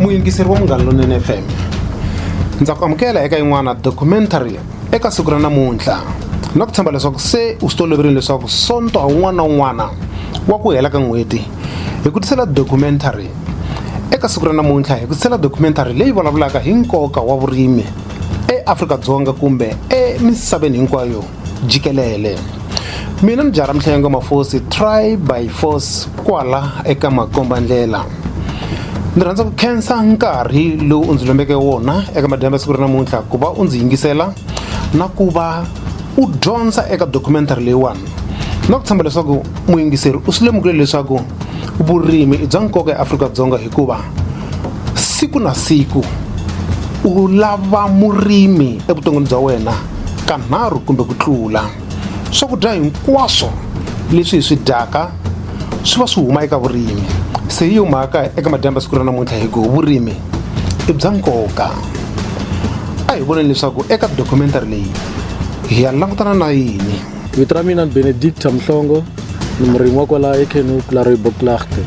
muyingiseri wa munghana lonene fm ndza ku amukela eka yin'wana documentary eka siku ra namuntlha na ku tshemba leswaku se u swi toloverile leswaku sonto ha un'wana na un'wana wa ku hela ka n'hweti hi ku tisela documentary eka siku ra namuntlha hi ku tisela documentary leyi vulavulaka hi nkoka wa vurimi eAfrika-Dzonga kumbe emisaveni hinkwayo jikelele mina ni jara mihlengo mafosi try by force kwala eka makomba ndlela ndzi rhandza ku khensa nkarhi lowu u ndzi lombeke wona eka madyambu ya siku ra namuntlha ku va u ndzi yingisela na ku va u dyondza eka documentary leyiwani na ku tshemba leswaku muyingiseri u swi lemukile leswaku vurimi i bya nkoka eAfrika-Dzonga hikuva siku na siku u lava murimi evuton'wini bya wena kanharhu kumbe ku tlula swakudya hinkwaswo leswi hi swi dyaka swi va swi huma eka vurimi se yi humaka eka madyambu ya siku ra namuntlha hi ku vurimi i bya nkoka a hi voneni leswaku eka documentary leyi hi ya langutana na yini vito ra mina ni benedicta mhlongo ni murimi wa kwala ekenu kularoibo klachte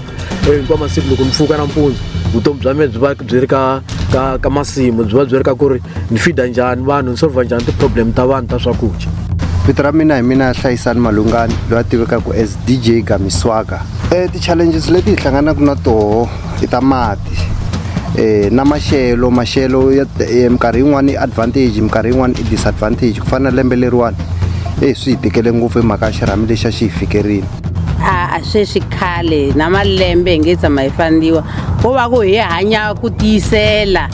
hinkwa masiku loko ni pfuka nampundzu vutomi bya mina byi va byi ri ka ka ka masimu byi va byi ri ka ku ri ni fida njhani vanhu ni solva njhani ti-problem ta vanhu ta swakudya vito ra mina hi mina ya hlayisani malungani loyi a tivekaka as dj gamiswaka um ti-challenges leti hi hlanganaka na toho i ta mati um na maxelo maxelo ya minkarhi yin'wani advantage minkarhi yin'wani i disadvantage ku fana na lembe leriwani eyi swi hi tikele ngopfu hi mhaka ya xirhami lexi a xi hi fikerile a sweswi khale na malembe hi nge tshama hi fandiwa ko va ku hi hanya ku tiyisela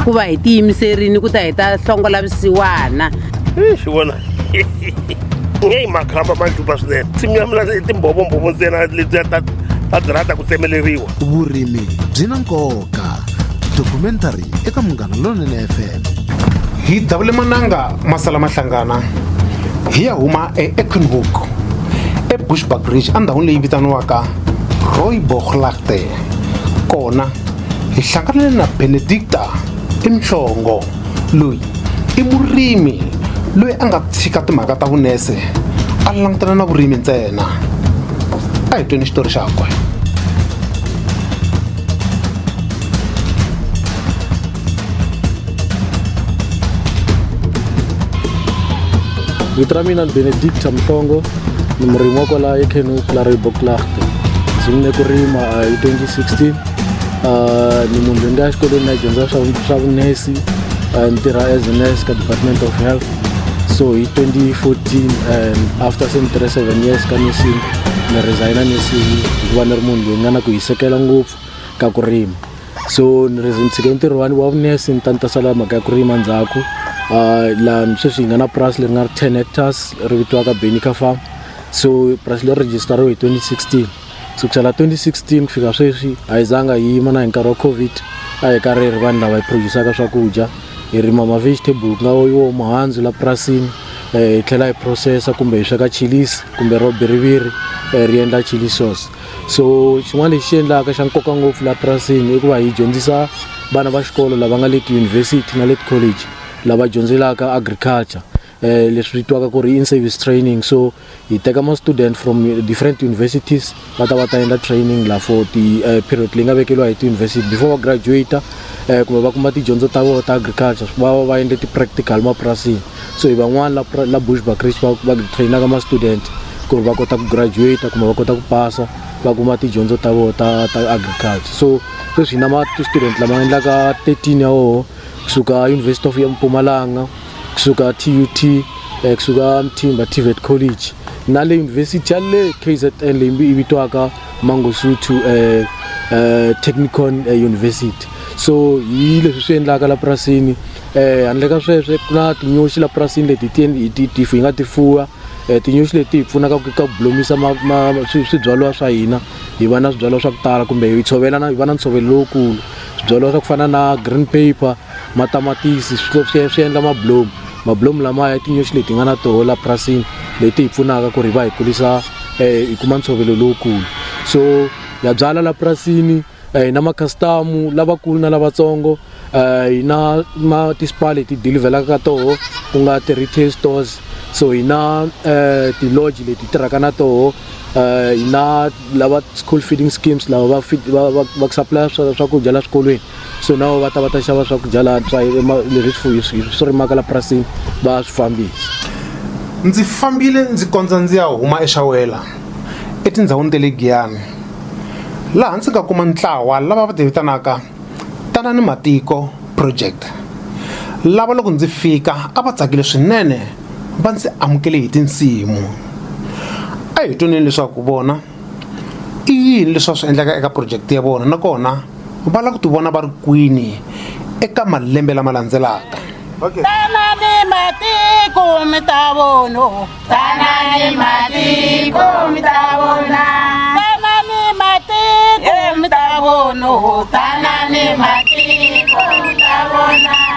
ku va hi tiyimiserini ku ta hi ta hlongola visiwana xi vona nge yi makhamba ma juba swinene nsimu ya mina i timbhovombhovo ntsena letiya ta ta dzirata ku tsemeleriwa vurimi byi na nkoka documentary eka munghana lonene fm hi davule mananga masala mahlangana hi ya huma eekenhook ebushbuck ridge endhawini leyi vitaniwaka royboglagte kona hi hlanganile na benedicta imhlongo loyi i murimi loyi a nga tshika timhaka ta vunese a langutana na vurimi ntsena a hi tweni xitori xakwe vito ra mina ni benedicta mhlongo ni murimi wa kwala ekenu la reboklachte ndzi mune ku rima hi 2016 Uh, ni munhu loyi nga xikolweni na dyondza swa swa vunesi uh, ni tirha as a nurse ka department of health so hi 2014 and after se ni tirhe seven years ka nursing ni resigna nursing hikuva ni ri munhu loyi nga na ku hisekela ngopfu ka ku rima so ni ri ni tshike ntirho wani wa vunesi ni ta ni ta sala mhaka ya ku rima ndzhaku uh, laha sweswi hi nga na purasi leri nga ri 10 hectares ri vitiwaka benica farm so purasi leri register ro hi 2016 kusukela 2016 ku fika sweswi a yi zanga yi yima na hi nkarhi wa covid a hi karhi ri vanhu lava hi produsaka swakudya hi rima ma-vegetable ku nga wo muhandzu la purasini um hi tlhela hi processa kumbe hi sweka chilisi kumbe ro biriviri um ri endla chili sauce so xin'wana lexi xi endlaka xa nkoka ngopfu la purasini i ku va hi dyondzisa vana va xikolo lava nga le tiyunivhesiti na le ticollege lava dyondzelaka agriculture eh, leswi vitiwaka ku ri in service training so hi teka ma-student from different universities va ta va ta endla training la for ti-period eh, leyi nga vekeliwa hi ti-university before va graduate eh, kumbe va kuma tidyondzo ta vona ta agriculture va va va endle ti-practical mapurasini so hi van'wana la, la bush bacris va, va trainaka ma-student ku ri va kota ku graduate kumbe va kota ku pasa va kuma tidyondzo ta vona ta, ta agriculture so sweswi hi na ma-student lama endlaka 13 ya woho kusuka University of Mpumalanga kusuka TUT eh, kusuka Mthimba TVET College na le university ya le KZN leyi yi vitwaka Mangosuthu eh, eh, Technicon eh, University so hi leswi swi endlaka la purasini eh handle ka sweswo ku na tinyoxi la purasini leti ti hi ti ti hi nga ti fuwa eh tinyoxi leti hi pfunaka ku ka ku blomisa ma- ma- swi- swibyariwa swa hina hi va na swibyariwa swa ku tala kumbe hi tshovela na hi va na ntshovelo lowukulu swibyariwa swa ku fana na green paper matamatisi swi endla mabulomu mabulomu lamaya i tinyoxi leti nga na toho la purasini leti hi pfunaka ku ri va hi kulisa um hi kuma ntshovelo lowukulu so ya byala la purasini um hi na makhastamu lavakulu na lavatsongo um hi na ma ti-spa leti dilivhelaka ka toho ku nga ti-retail stores so hi na um ti-lodge leti tirhaka na toho eh, na lava school feeding schemes lava va va va va supply swakudya la swikolweni so na va ta va ta xava swakudya la swa leswi swifuyi swi swi rimaka la purasini va swi fambisa ndzi fambile ndzi kondza ndzi ya huma exawela etindhawini ta le giyani laha ndzi nga kuma ntlawa lava va ti vitanaka tanani matiko project lava loko ndzi fika a va tsakile swinene va ndzi amukele hi tinsimu a hi twaneni leswaku vona i yini leswi va swi endlaka eka project ya vona nakona va lava ku tivona va ri kwini eka malembe lama landzelaka okay. tanani matiko mi ta vono tanani matiko mi ta vona tanani matiko mi ta vono tanani matiko mi ta vona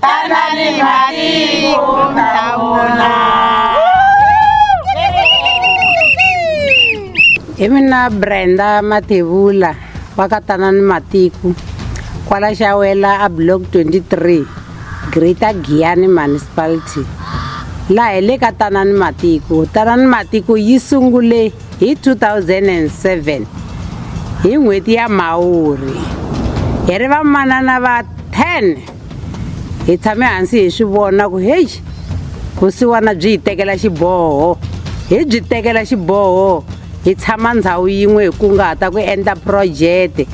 Tanani matiko mtaona. hi mina brenda mathevula wa ka tanani matiko kwala xawela a block 23 greater giyani municipality laha hi le ka tanani matiko tanani matiko yi sungule hi 2007 hi n'hweti ya mhawuri hi ri vamanana va 10 hi tshame hansi hi swi vona ku heyi vusiwana byi hi tekela xiboho hi byi tekela xiboho hi tshama ndhawu yin'we hi kungahata ku endla projete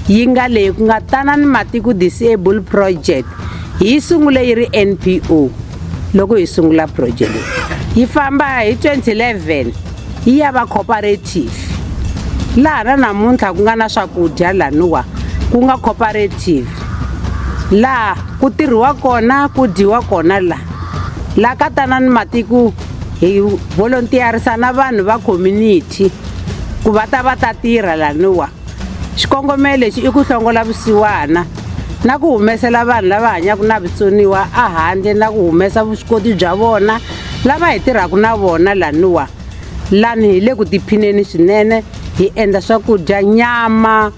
yi nga leyi ku nga tanani matiko disable project hi yi sungule yi ri npo loko hi sungula project yi famba hi 2011 ya va cooperative laha na namuntlha ku nga na swakudya laniwa ku nga cooperative laha ku tirhiwa kona ku dyiwa kona laha laha ka tanani matiko hi volontiyarisa na vanhu va community ku va ta va ta tirha laniwa xikongomelo lexi i ku hlongola vusiwana na ku humesela vanhu lava hanyaka na vutsoniwa ehandle na ku humesa vuswikoti bya vona lava hi tirhaka na vona laniwa lani hi le ku tiphineni swinene hi endla swakudya nyama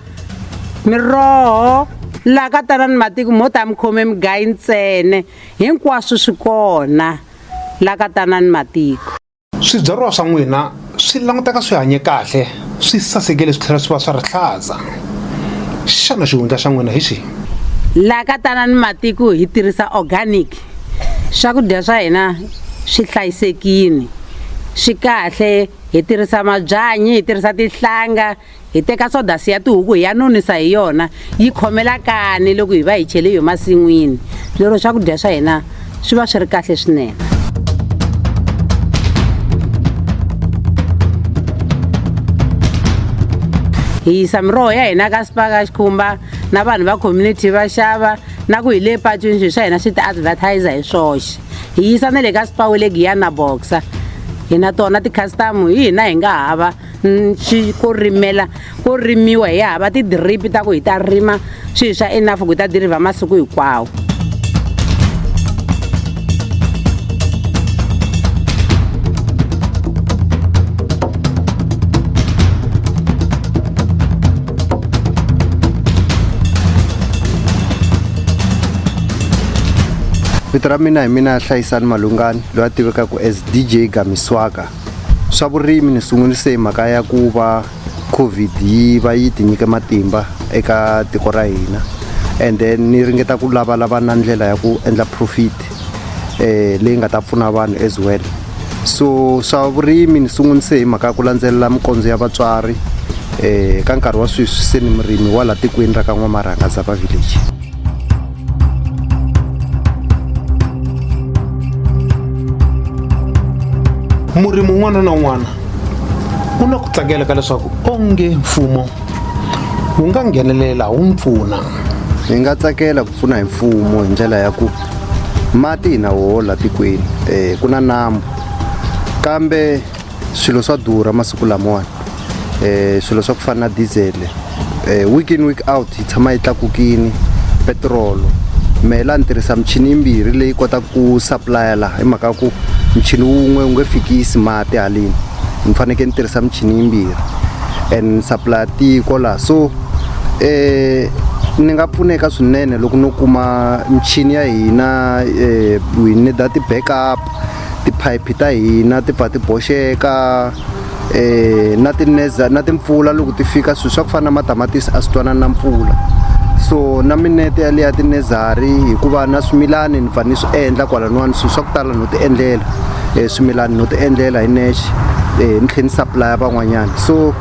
miroho laha ka tanani matiko mo ta mi khome migayi ntsene hinkwaswo swi kona laha ka tanani matiko Swibyariwa swa n'wina swi languteka swi hanye kahle, swi sasekile swi tlhela swi va swa rihlaza. Xana xihundla xa n'wina hi xihi? Laha ka Tanani Matiko hi tirhisa organic. Swakudya swa hina swi hlayisekile, swi kahle, hi tirhisa mabyanyi, hi tirhisa tinhlanga. hi teka sodasi ya tihuku hi ya nonisa hi yona yi khomela kani loko hi va hi chele hi masin'wini lero swakudya swa hina swi va swi ri kahle swinene hi yisa miroho ya hina ka sipaka xikhumba na vanhu va community va xava na ku hi le patwini swilo swa hina swi ti advertiser hi swoxe hi yisa na le ka sipawu le giyana boxa hina tona ti-customer hi hina hi nga hava swi ko rimela ko rimiwa hi hava ti-drip ta ku hi ta rima swilo swa enough ku hi ta dirivha masiku hinkwawo vito ra mina hi mina hlayisani malungani loyi a tivekaka as dj gamiswaka swa vurimi ni sungurise hi mhaka ya ku va covid yi va yi tinyike matimba eka tiko ra hina and then ni ringeta ku lavalava na ndlela ya ku endla profit eh leyi nga ta pfuna vanhu as well so swa vurimi ni sungunise hi mhaka ya ku landzelela mikondzo ya vatswari eh ka nkarhi wa sweswi se ni murimi wa laha tikweni ra ka n'wamarhanga zapa village murimi un'wana na un'wana u na ku tsakela ka leswaku onge mfumo wu nga nghenelela wu mpfuna hi nga tsakela ku pfuna hi mfumo hi ndlela ya ku mati hi na woho la tikweni um ku na nambu kambe swilo swa durha masiku lamawani um swilo swa ku fana na dizele um eh, week in week out yi tshama yi tlakukini petirolo mehe laha ni tirhisa michini yimbirhi leyi kotaka ku supplya laha hi mhaka ku michini wun'we wu nge fikisi mati haleni ni fanekele ni tirhisa michini yimbirhi and supplya tiko laha so um ni nga pfuneka swinene loko no kuma michini ya hina um eh, hi nida ti-backup tiphayiphi ta hina ti pfa ti boxeka um na tineza na timpfula loko ti fika swilo swa ku fana na matamatisi a swi twanani na mpfula so na minete yaleya tinezari hikuva na swimilani ni pfa ni swi endla kwalan'wani swilo swa ku tala no ti endlela um swimilani no ti endlela hi nexe um ni tlhela ni supplya van'wanyana so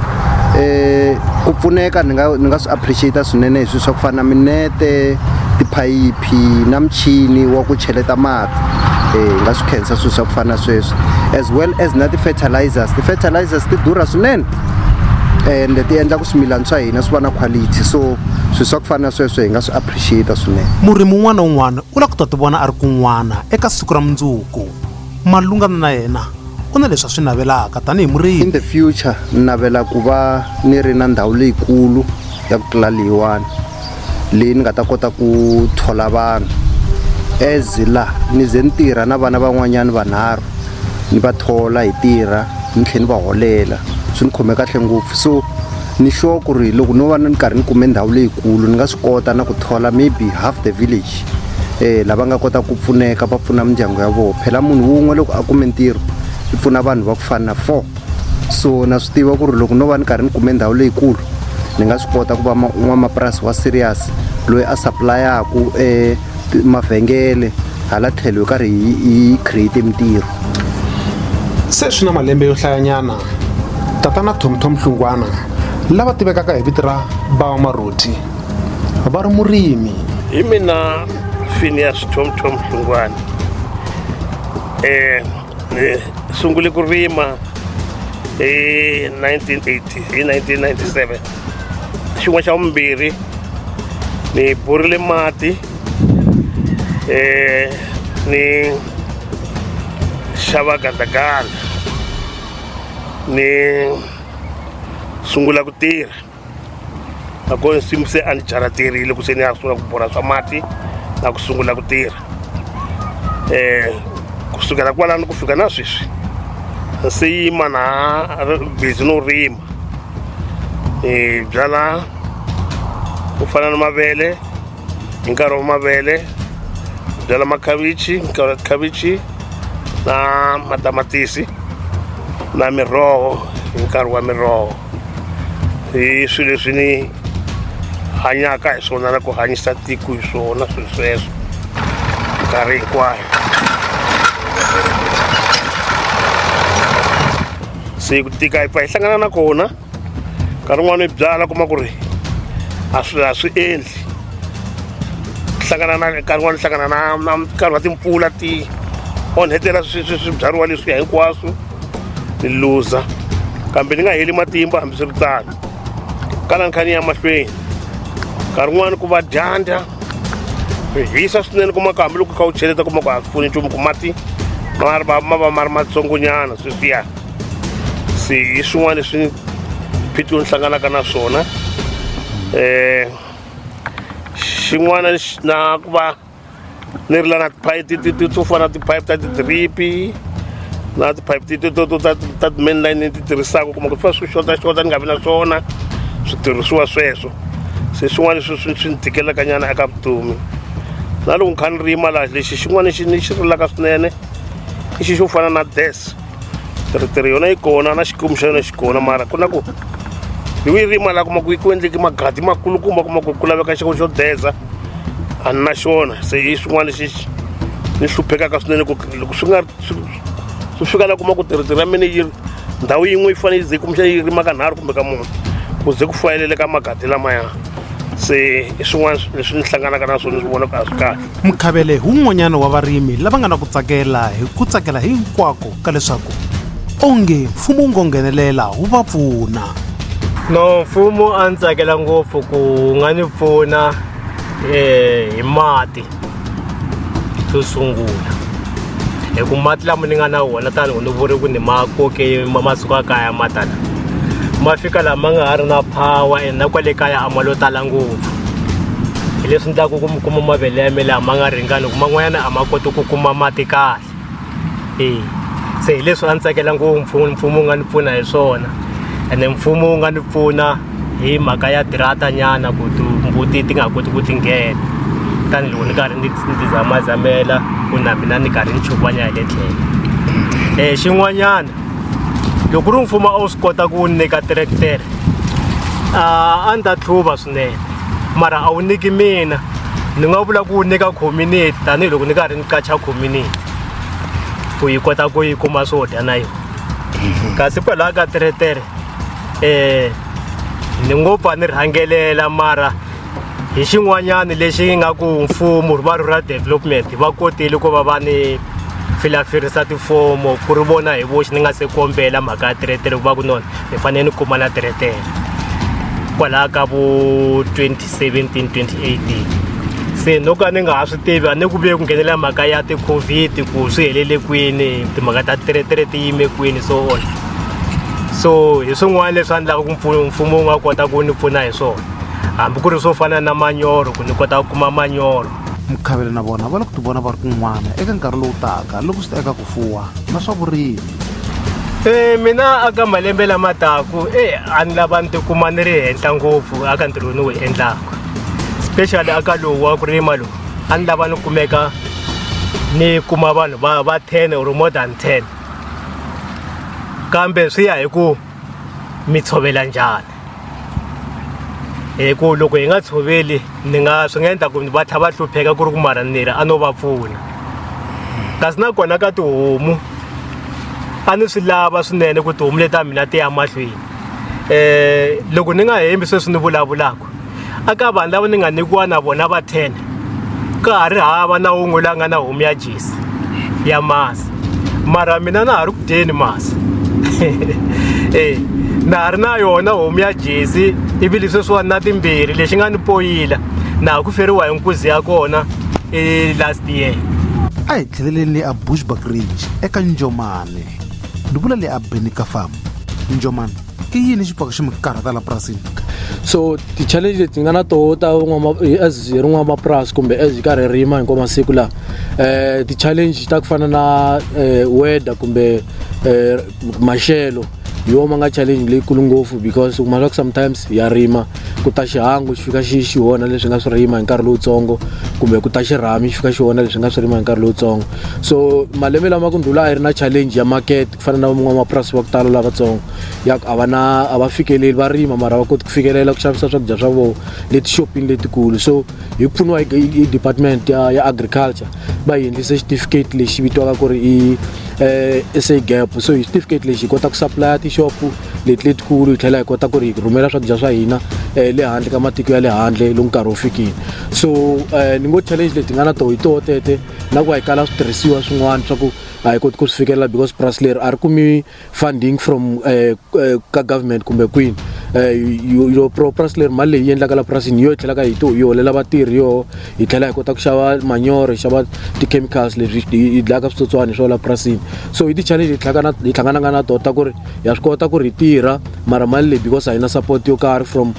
eh ku pfuneka ni nga ni nga swi appreciate swinene hi swilo swa ku fana na minete tiphayiphi maphayiphi na michini wa ku cheleta mati hi nga swi khensa swilo swa ku fana na sweswo as well as na ti-fertilizers ti-fertilizers ti durha swinene and ti endla ku swimilana swa hina swi va na quality so swilo swa ku fana na sweswo hi nga swi appreciate swinene murimi un'wana na un'wana u lava ku ta ti vona a ri kun'wana eka siku ra mundzuku malungana na yena u na leswi a swi navelaka tanihi in murimi the future ni navela ku va ni ri na ndhawu leyikulu ya ku tlula leyiwani leyi ni nga ta kota ku thola vanhu as la ni ze ni tirha na vana van'wanyana vanharhu ni va thola hi tirha ni tlhela ni va holela swi ni khome kahle ngopfu so ni sure ku ri loko no va ni karhi ni kume ndhawu leyikulu ni nga swi kota na ku thola maybe half the village um lava nga kota ku pfuneka va pfuna mindyangu ya vona phela munhu wun'we loko a kume ntirho i pfuna vanhu va ku fana na four so na swi tiva ku ri loko no va ni karhi ni kume ndhawu leyikulu ni nga swi kota ku va n'wamapurasi wa serious loyi a supply-aku e mavhengele hala tlhelo hi karhi hi create mintirho se swi na malembe yo hlayanyana tatana thomthom hlungwana lava tivekaka hi vito ra bawa maroti va ri murimi hi mina finias thomthom hlungwana um ni sungule ku rima hi 1980 hi 1997 xin'wana xa vumbirhi ni borile mati um ni xava gandaganda ni sungula ku tirha nakona nsimu se a ni jaraterile ku se ni ya sungula ku borha swa mati na ku sungula ku tirha um ku sukela kwalano ku fika na sweswi se yima na busy no rima hi byala ku fana na mavele hi nkarhi wa mavele byala makhavichi khavichi na matamatisi na miroho hi nkarhi wa miroho hi swilo leswi ni hanyaka hi swona na ku hanyisa tiko hi swona swilo sweswo nkarhi hinkwayo se ku tika hi pfa hi hlangana na kona nkarhi wun'wana hi byala kuma ku ri a swi a swi endli hlangana na nkarhi wun'wana hlangana na na nkarhi wa timpfula ti onhetela swibyariwa leswiya hinkwaswo ni luza kambe ni nga heli matimba hambiswiritano kala ni kha ni ya mahlweni nkarhi wun'wani ku va dyandza swi hisa swinene kuma ku hambiloko u kha u cheleta kuma ku a swi pfuni nchumu ku mati ma ri va ma va ma ri matsongonyana sweswiya se hi swin'wana leswi phitlo ni hlanganaka na swona um xin'wana lexi na ku va leri la na tiphayiphi ti ti ti to fana na tiphayiphi ta ti-drip-i na tiphayiphi ti ti to to ta ta ti-main line ni ti tirhisaka kuma ku swi va swi xotaxota ni nga vi na swona switirhisiwa sweswo se swin'wana leswi swi swi ni tikelaka nyana eka vutomi na loko ni kha ni rima laha lexi xin'wana lexi ni xi rilaka swinene i xi xo fana na this. teretere yona yi kona na xikomu xa yona xi kona mara ku na ku hi wi rima laha kuma ku ku endleke magadi makulukumba kuma ku ku laveka xiko xo deza a ni na xona se hi swin'wana lexi ni hluphekaka swinene ku loko swi nga swi fika laha kuma ku teretere ya mina yi ndhawu yin'we yi fanele yi ze kumbexana yi rima ka nharhu kumbe ka mune ku ze ku fanelele ka magadi lamaya se i swin'wana leswi ni hlanganaka na swona ni swi vonaka a swi kahle Mukhavele hi wun'wanyana wa varimi lava nga na ku tsakela hi ku tsakela hinkwako ka leswaku onge mfumo wu ngo nghenelela wu va pfuna. No mfumo a ni tsakela ngopfu ku wu nga ni pfuna eh, hi mati xo sungula hi ku mati lama ni nga na wona tanihi ni vuri ku ni ma koke ma masiku ya kaya ma tala ma fika lama nga ha ri na power and na kwale kaya a ma lo tala ngopfu hi leswi endlaka ku mi kuma mavele ya mi laha ma nga ringani hi ku man'wanyana a ma koti ku kuma mati kahle eya se hi leswi a ni tsakela ngopfu mfumo wu nga ni pfuna hi swona ene mfumo wu nga ni pfuna hi mhaka ya tirata nyana ku timbuti ti nga ha koti ku ti nghena tanihiloko ni karhi ni ti zamazamela ku na mina ni karhi ni chukanya hi le tlhelo um xin'wanyana loko ku ri mfumo a wu swi kota ku wu nyika tiretere a a ni ta tlhuva swinene mara a wu nyiki mina ni nga vula ku nyika community tanihiloko ni karhi ni qacha community ku yi kota ku yi kuma swo dya na yona mhm. kasi kwalaho ka teretere um ni ngo pfa ni rhangelela mara hi xin'wanyana lexi nga ku mfumo va rural development va kotile ku va va ni filafirisa tifomo ku ri vona hi voxe ni nga se kombela mhaka ya teretere ku va ku nona ni fanele ni kuma na teretere kwalaha ka vo 2017 2018 se no ka ni nga ha swi tivi a ni ku vuye ku nghenelela mhaka ya ti-covid ku swi helele kwini timhaka ta teretere ti yime kwini so on so hi swin'wana leswi endlaka ku mfumo wu nga kota ku ni pfuna hi swona hambi ku ri swo fana na manyoro ku ni kota ku kuma manyoro mukhavele na vona va lava ku tivona va ri kun'wana eka nkarhi lowu taka loko swi ta eka ku fuwa na swa vurimi e mina aka malembe lama taku e a ni lava ni tikuma ni ri henhla ngopfu aka ntirho ni wu endlaka especially aka lowu wa ku rima lowu a ni lava ni kumeka ni kuma vanhu va va ten or more than ten kambe swi ya hi ku mi tshovela njhani hi ku loko hi nga tshoveli ni nga swi nga endla ku va tlha va hlupheka ku ri ku mara nira a no va pfuna kasi nakona ka tihomu a ni swi lava swinene ku tihomu leti ta mina ti ya mahlweni um loko ni nga hembi sweswi ni vulavulaka aka vanhu lava ni nga nyikiwa na vona va 10 ka ha ri hava na wun'we la nga na homu ya jesi ya masi mara mina na ha ri ku dyeni masi e na ha ri na yona homu ya jesi ivi lesweswiwani na timbirhi lexi nga ni poyila na ha ku feriwa hi nkuzi ya kona i last year a hi tlheleleni le a bushback ridge eka njomane ni vula le a beni ka farm njomane i yini xi pfaka xi mi karhata la purasini so ti-challenge leti nga na toho ta as hi ri n'wamapurasi kumbe as hi karhi rima hinkwa masiku lawa um eh, ti-challenge ta ku fana na eh, weather kumbe eh, maxelo hi wona ma nga challenge leyikulu ngopfu because u kuma leswaku sometimes ya rima ku ta xihangu xi fika xi xi onha leswi nga swi rima hi nkarhi lowutsongo kumbe ku ta xirhami xi fika xi onha leswi nga swi rima hi nkarhi lowutsongo so malembe lama ku ndlula a yi ri na challenge ya market ku fana na van'wamapurasi va ku tala lavatsongo ya ku a va na a va fikeleli va rima mara va koti ku fikelela ku xavisa swakudya swa vona letixopini letikulu so hi ku pfuniwa hi department ya ya agriculture va hi endlise xitifiketi lexi vitiwaka ku ri i um sa gap so hi xitifiketi lexi hi kota ku supplya tixopo leti letikulu hi tlhela hi kota ku ri hi rhumela swakudya swa hina um le handle ka matiko ya le handle loku nkarhi wu fikile so um ni ngo challenge leti nga na toho hi toho tete na ku va hi kala switirhisiwa swin'wana swa ku a hi koti ku swi fikelela because purasi leri a ri kumi funding from eh, eh, ka government kumbe kwini yo eh, pro purasi leri mali leyi yi endlaka la purasini yo yi tlhelaka hi to yi holela vatirhi yoho hi tlhela hi kota ku xava manyoro hi xava ti-chemicals leswi yi dlayaka switsotswana hi swo la purasini so hi ti-challenge hi hlanganaka na tona ta ku ri ha swi kota ku ri hi tirha mara mali leyi because a yi na support yo karhi from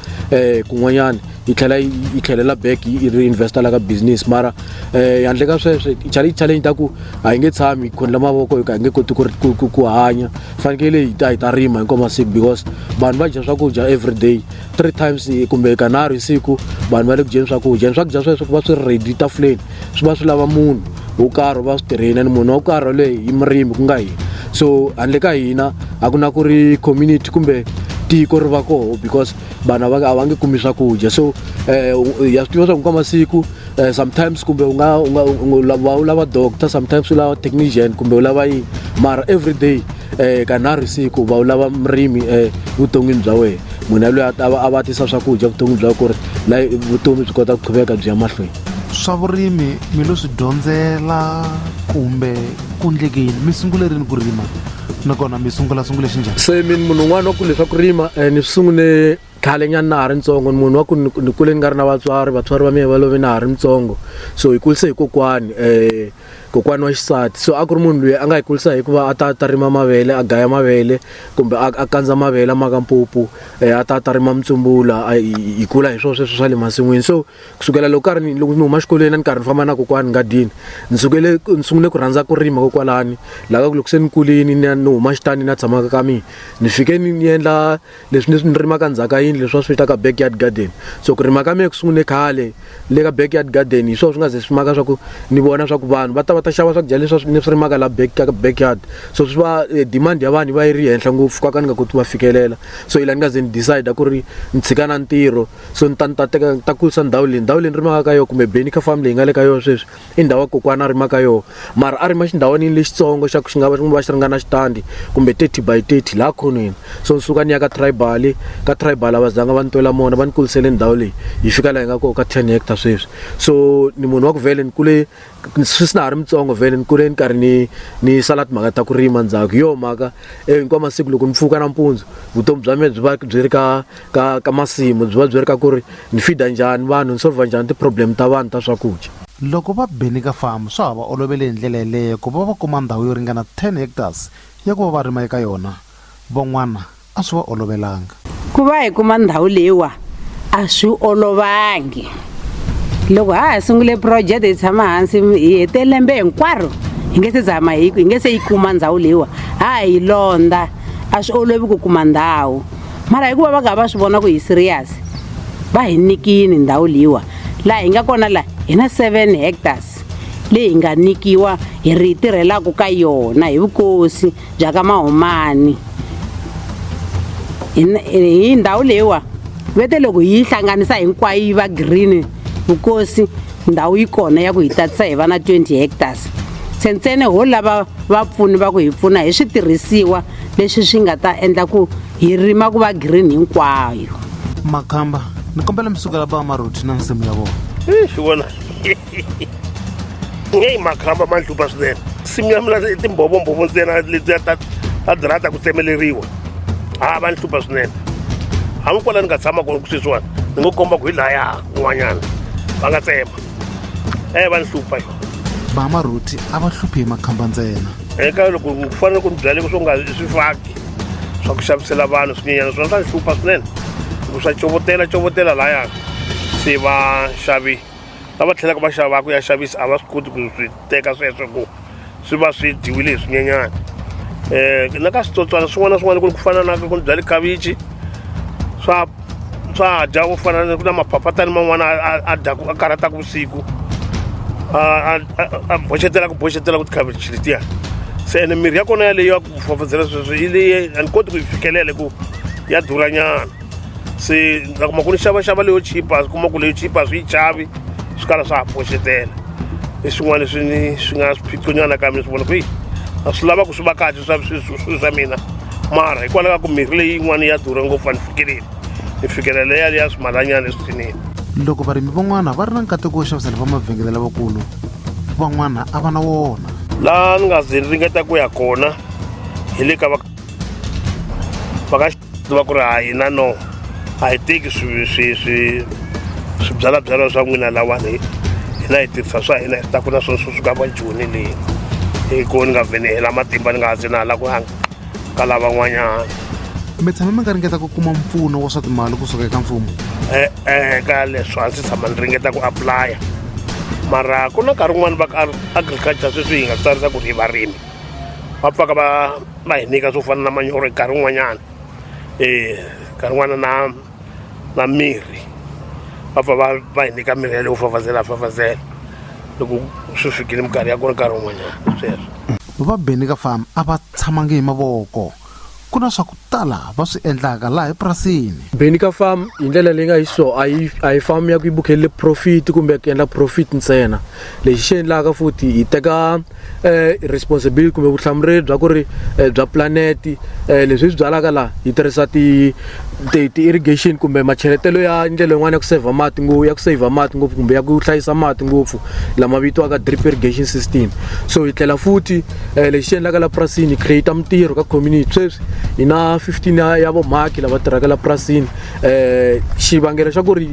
kun'wanyana yi tlhela yi tlhelela back yi ri investa la ka business mara um handle ka sweswo challenge challenge ta ku a yi nge tshami khondla mavoko hi ka hi nge koti ku ku hanya fanekele hi ta hi ta rima hinkwavo masiku because vanhu va dya swakudya every day three times kumbe kanharhu hi siku vanhu va le ku dyeni swakudya ni swakudya sweswo ku va swi ri ready tafuleni swi va swi lava munhu wo karhi va swi tirheni ni munhu wa ku karhi waloyi hi murimi ku nga hina so handle ka hina a ku na ku ri community kumbe tiko ri va koho because vanhu va a va nge kumi swakudya so um ya swi tiva swa ku ka masiku um sometimes kumbe u nga u nga va u lava doctor sometimes u lava technician kumbe u lava yini mara every day um kanharhu siku va u lava murimi um vuton'wini bya wena munhu yaloyi a va a va tisa swakudya vuton'wini bya ku ri la vutomi byi kota ku qhuveka byi ya mahlweni swa vurimi mi lo swi dyondzela kumbe ku ndlekeni mi sungule rini ku rima nakona mi sungula sungule xi njhani se mina munhu un'wana wa ku leswaku rima um ni swi sungule khale nyana na ha ri ntsongo ni munhu wa ku ni kule ni nga ri na vatswari vatswari va mina va love na ha ri ntsongo so hi kulise hi kokwani um kokwani wa xisati so a ku ri munhu loyi a nga hi kulisa hikuva a ta ta rima mavele a gaya mavele kumbe a kandza mavele a maka mpupu um a ta ta rima mutsumbula hi kula hi swona sweswo swa le masin'wini so kusukela loko karhi ni loko ni huma xikolweni a ni karhi ni famba na kokwani ngadini ni sukele ni sungule ku rhandza ku rima kokwalani laha ku loko se ni kulini ni ni huma xitani na tshamaka ka mina ni fike ni ni endla leswi leswi ni rimaka ndzhaku ka yini leswi va swi vitaka backyard garden so ku rima ka mina ku sungule khale le ka backyard garden hi swona swi nga ze swi maka swa ku ni vona swa ku vanhu va ta va ta xava swakudya leswi ni swi rimaka la back ka backyard so swi va eh, demand ya vanhu va yi ri henhla ngopfu ka ka ni nga koti va fikelela so yi la ni nga ze ni decide ku ri ni tshika na ntirho so ni ta ni ta teka ni ta kurisa ndhawu leyi ndhawu leyi ni rimaka ka yona kumbe benika farm leyi nga le ka yona sweswi i ndhawu ya kokwana a rima ka yona mara a rima xindhawanini lexitsongo xa ku xi nga va xi nga va xi ringana xitandi kumbe thirty by thirty laha khonweni so ni suka ni ya ka tribal ka tribal a va zanga va ni twela mona va ni kulisele ndhawu leyi yi fika laha yi nga kona ka ten hectare sweswi so ni munhu wa ku vhele ni kule sweswi na ha ri mutsongo vhele ni kule ni karhi ni ni sala timhaka ta ku rima ndzhaku hi yoho mhaka eh, hinkwawu masiku loko ni pfuka nampundzu vutomi bya mina byi va byi ri ka ka ka masimu byi va byi ri ka ku ri ni fida njhani vanhu ni solva njhani ti-problem ta vanhu ta swakudya loko va beni ka famu swa ha va olovele hi ndlela yeleyo ku va va kuma ndhawu yo ringana 10 hectares ya ku va va rima eka yona van'wana a swi va olovelanga. Ku va hi kuma ndhawu leyiwa a swi olovangi. Loko ha ha sungule phurojete hi tshama hansi hi hete lembe hinkwaro hi nge se zama hi hi nge se yi kuma ndhawu leyiwa ha ha yi londza a swi olovi ku kuma ndhawu mara hikuva va ka va swi vona ku hi serious va hi nikini ndhawu leyiwa laha hi nga kona laha hi na seven hectares leyi hi nga nikiwa hi ri yi tirhelaka ka yona hi vukosi bya ka mahumani hi hi ndhawu leyiwa ve te loko hi yi hlanganisa hinkwayo yi va green vukosi ndhawu yi kona ya ku hi tatisa hi va na 20 hectares se ntsene ho lava vapfuni va ku hi pfuna hi switirhisiwa leswi swi nga ta endla ku hi rima ku va green hinkwayo makhamba ni kombela mi sukela va maroti na nsimu ya vona Ixi, wena. nge yi makhamba ma ndlupa swinene simu ya mina timbovombhovo ntsena letiya ta ta dirata ku tsemeleriwa ha va ni hlupha swinene hambi kwala ni nga tshama kona ku sweswiwani ni ngo komba ku hi laya un'wanyana va nga tsema e eh, va ni hlupha yo vamarhuti a va hluphi hi makhamba ntsena eka loko ku fanele ku ni byaleke swo nga swi faki swa ku xavisela vanhu swinyenyana swona swa ni hlupha swinene loko swa covotela covotela layani se va xavi lava tlhelaka va xavaka ya xavisa a va swi koti ku swi teka sweswo ku swi va swi dyiwile hi swinyenyana um eh, na ka switsotswana swin'wana na swin'wana ku ri ku fana na ku byale khavichi swa swa dya ku fana ku na maphaphatani man'wana a dyaku a karhataka vusiku a boxetela ku boxetela ku tikhavichi letiya se ene mirhi ya kona yaleyo ya ku fafazela sweswo yi leyi a ni koti ku yi fikelela hi ku ya durhanyana se ni ta kuma ku ni xavaxava leyo chipa ni kuma ku leyo chipa swi yi chavi swi kala swa ha pfuxetela i swin'wana leswi ni swi nga swiphiqonyana ka mina swi vona ku yi a swi lava ku swi va kahle swa swi- swi- swi swa mina mara hikwalaho ka ku mirhi leyi yin'wana ya durha ngopfu a ni fikeleli ni fikelela leya leya swimalanyana eswithinini loko varimi van'wana va ri na nkateko wo xavisela va mavhengele lavakulu van'wana a va na wona laha ni nga ze ni ringeta ku ya kona hi le ka va va ka swi va ku ri ha hina no a hi teki swibyalabyala swa n'wina lawani hina hi tirhisa swa hina hi ta ku na swona swi suka va joni leyi hi ko ni nga vhene hela matimba ni nga ha zinala ku hanga ka lavan'wanyana mi tshame mi nga ringeta ku kuma mpfuno wa swa timali kusuka eka mfumo e-e ka leswo a ndzi tshama ni ringeta ku aplaya mara ku na nkarhi wun'wani va agriculture sweswi hi nga tsarisa ku ri hi varimi va pfaka va va hi nyika swo fana na manyoro hi nkarhi wun'wanyana um nkarhi wun'wana na na mirhi va pfa va va hi nyika mirhi ya leyo fafazela fafazela loko swi fikile minkarhi ya kona nkarhi wun'wanyana sweswo va benika farm a va tshamangi hi mavoko ku na swa ku tala va swi endlaka laha epurasini benika farm hi ndlela leyi nga hi so a yi a yi farm ya ku yi bukhelele profit kumbe ku endla profit ntsena lexi xi endlaka futhi hi teka eh, responsibility kumbe vuhlamureri bya ku ri eh, bya pulaneti eh, leswi swi byalaka laha hi tirhisa ti-irrigation ti, ti kumbe macheletelo ya ndlela yin'wana ya ku saver mati ya ku saver mati ngopfu kumbe ya ku hlayisa mati ngopfu lama vitiwaka drip irrigation system so hi tlhela futhi eh, lexi xi endlaka la purasini hi create mintirho ka community sweswi hi na 15 ya, ya vomhaki lava tirhaka la purasini eh xivangelo xa ku ri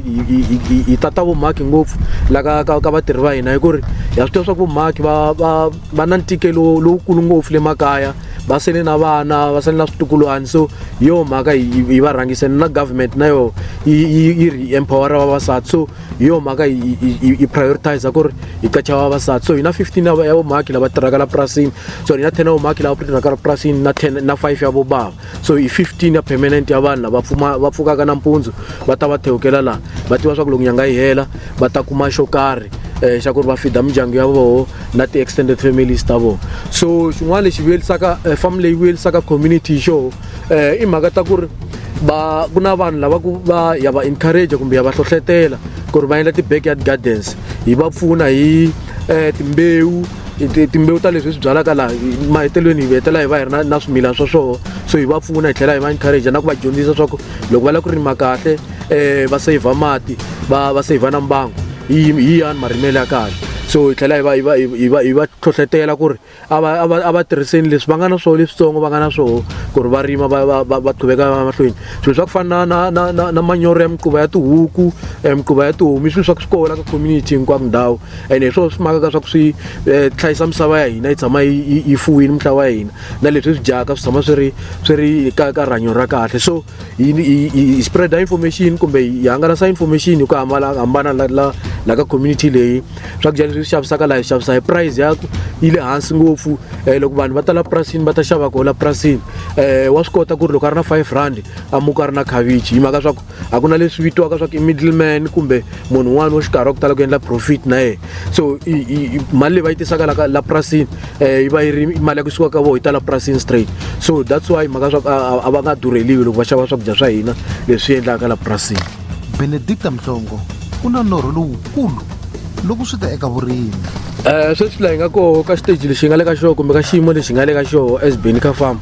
hi tata vumhaki ngopfu la ka ka ka vatirhi va hina hi ku ri ha swi tiva swa ku vumhaki va va va na ntikelo lowukulu ngopfu le makaya va sele na vana va sele na switukulwana so hi yo mhaka hi va rhangise na government na yo yi ri empowera vavasati so hi yo mhaka yi prioritize ku ri hi qacha vavasati so hi na 15 ya vumhaki lava tirhaka la purasini so hi na 10 ya vumhaki lava tirhaka la purasini na 10 na 5 ya vobava so hi 15 ya permanent ya vanhu lava pfuma va pfukaka nampundzu va ta va thewukela laha va tiva swa ku loko nyanga yi hela va ta kuma xo karhi um xa ku ri va fida mindyangu ya voho na ti-extended families ta voho so xin'wana lexi vuyelisaka eh, farm leyi vuyelisaka community xo eh, i mhaka ta ku ri ba ku na vanhu lava ku va ya va encourage kumbe ya va hlohletela ku ri va endla ti-backyard gardens hi va pfuna hi um timbewu timbewu ta leswi hi swi byalaka laha mahetelelweni hi hetela hi va hi ri na na swimilana swa swoho so hi va pfuna hi tlhela hi va encourage na ku va dyondzisa swa ku loko va lava ku rima kahle um va saver mati va va saver na mbango hi hi yani marimelo ya kahle so hi tlhela hi va hi va hi va hi va hlohletela ku ri a va a va a va tirhiseni leswi va nga na swona leswitsongo va nga na swona ku ri va rima va va va va qhubeka va mahlweni swilo swa ku fana na na na na manyoro ya miquva ya tihuku um miquva ya tihomu i swilo swa ku swi kola ka community hinkwako ndhawu and hi swona swi makaka swa ku swi eh, hlayisa misava ya hina yi tshama yi fuwini mintlawa ya hina na leswi swi dyaka swi tshama swi ri swi ri ka ka rihanyo ra kahle so hi spreada information kumbe hi hangalasa information hi ku hambana hambana la la la ka community leyi swakudya leswi swi xavisaka laha hi xavisa hi price ya yi le hansi ngopfu um loko vanhu va tala purasini va ta xava koho la purasini um eh, wa swi kota ku ri loko a ri na five rand a muka a ri na khavichi hi mhaka swa ku a ku na leswi vitiwaka swa ku i middle man kumbe munhu un'wana wa xikarhi wa ku tala ku endla profit na yena so mali leyi va yi tisaka la la purasini um yi va yi ri mali ya ku suka ka vo yi ta la purasini straight so that's why mhaka swa ku a va nga durheliwi loko va xava swakudya swa hina leswi endlaka la purasini benedicta mhlongo ku na norho lowukulu loko swi ta eka vurimi um sweswi laha hi nga koho ka xiteji lexi hi nga le ka xoho kumbe ka xiyimo lexi hi nga le ka xoho as beni ka farm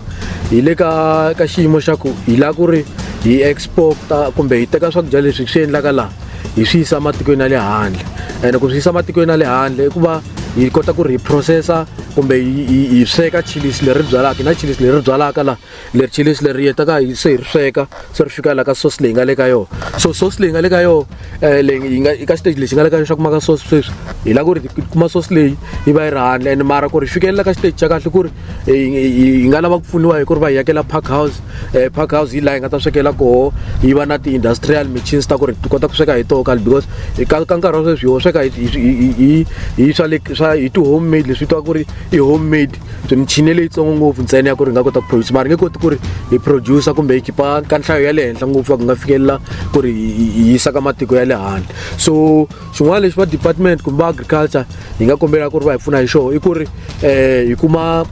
hi le ka ka xiyimo xa ku hi lava ku ri hi export-a kumbe hi teka swakudya leswi swi endlaka laha hi swi yisa ematikweni ya le handle ene ku swi yisa ematikweni ya le handle i ku va hi kota ku ri hi processa kumbe hi sweka chilis leri byalaka na chilis leri byalaka la leri chilis leri hetaka hi se hi ri sweka se ri fika la ka sauce leyi nga le ka yona so sauce leyi nga le ka yona Eh, leyi yi nga eka xiteji lexi nga le ka xa kumaka source sweswi hi la ku ri hi kuma source leyi yi va yi ri handle and mara ku ri hi fikelela ka xiteji xa kahle ku ri hi nga lava ku pfuniwa hi ku ri va hi yakela park house um park house hi laha hi nga ta swekela koho yi va na ti-industrial machines ta ku ri ti kota ku sweka hi toho kale because ka ka nkarhi wa sweswi ho sweka hi hi hi hi swa le swa hi ti-home made leswi vitiwaka ku ri i-home made so michini ya leyitsongo ngopfu ntsena ya ku ri nga kota ku produce mara nge koti ku ri hi producer kumbe hi khipa ka nhlayo ya le henhla ngopfu va ku nga fikelela ku ri hi yisa ka matiko ya le handle so xin'wana lexi va department kumbe va agriculture hi nga kombela ku ri va hi pfuna hi xoho i ku ri um hi kuma